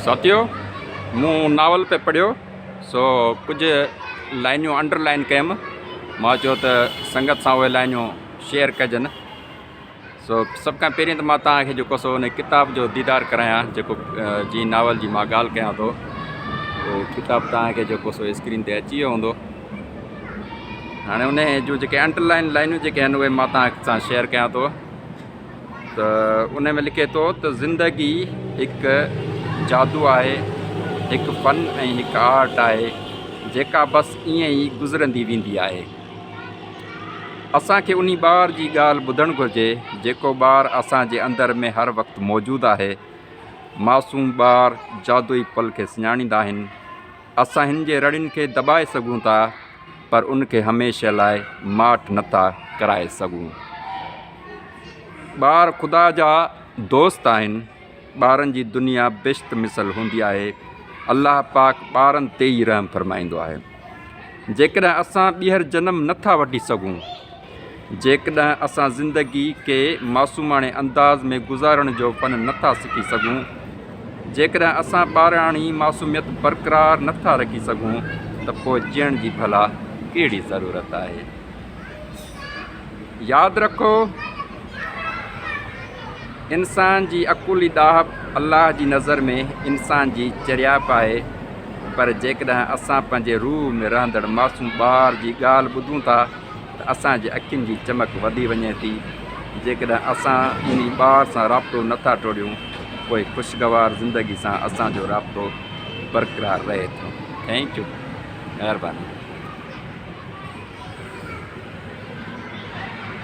ساٿيو! مون ناول پئي پڙهيو، سو ڪجهه لائنيون انڊر لائن ڪيم. مان چيو ته سنگت سان اهي لائنيون شيئر ڪجن. سو سڀ کان پهرين ته مان توهان کي جيڪو سو ان ڪتاب جو ديدار ڪرايان جيڪو جنهن ناول جي مان ڳالهه ڪيان ٿو. اهو ڪتاب توهان کي جيڪو سو اسڪرين تي اچي ويو هوندو. هاڻي انهيء جون جيڪي انڊر لائن لائنيون جيڪي آهن اهي مان توهان سان شيئر ڪيان ٿو. ته ان ۾ لکي ٿو ته زندگي هڪ جادو آهي هڪ فن ۽ هڪ آرٽ آهي جيڪا بس ائين ئي گذرندي ويندي آهي اسانکي انهي ٻار جي ڳالهه ٻڌڻ گهرجي جيڪو ٻار اسان جي اندر ۾ هر وقت موجود آهي معصوم ٻار جادوئي پل کي سڃاڻيندا آهن اسان هن جي رڙين کي دٻائي سگهون ٿا پر ان کي هميشه لاء ماٺ نه ٿا ڪرائي سگهون. ٻار خدا جا دوست آهن. ٻارن جي دنيا بهشت مثل هوندي آهي. الله پاڪ ٻارن تي ئي رحم فرمائيندو آهي. جيڪڏهن اسان ٻيهر جنم نه ٿا وٺي سگهون. جيڪڏهن اسان زندگي کي معصوماڻي انداز ۾ گذارڻ جو فن نٿا سکي سگهون، جيڪڏهن اسان ٻاراڻي معصوميت برقرار نٿا رکي سگهون ته پوء جيئڻ جي ڀلا ڪهڙي ضرورت آهي. ياد رکو انسان جي اڪولي ڏاهپ الله جي نظر ۾ انسان جي چريائپ آهي پر جيڪڏهن اسان پنهنجي روح ۾ رهندڙ معصوم ٻار جي ڳالهه ٻڌون ٿا، ته اسان جي اکين جي چمڪ وڌي وڃي ٿي، جيڪڏهن اسان ٻنهي ٻار سان رابطو نه ٿا ٽوڙيون پوء خوشگوار زندگي سان اسان جو رابطو برقرار رهي ٿو. Thank you مهرباني.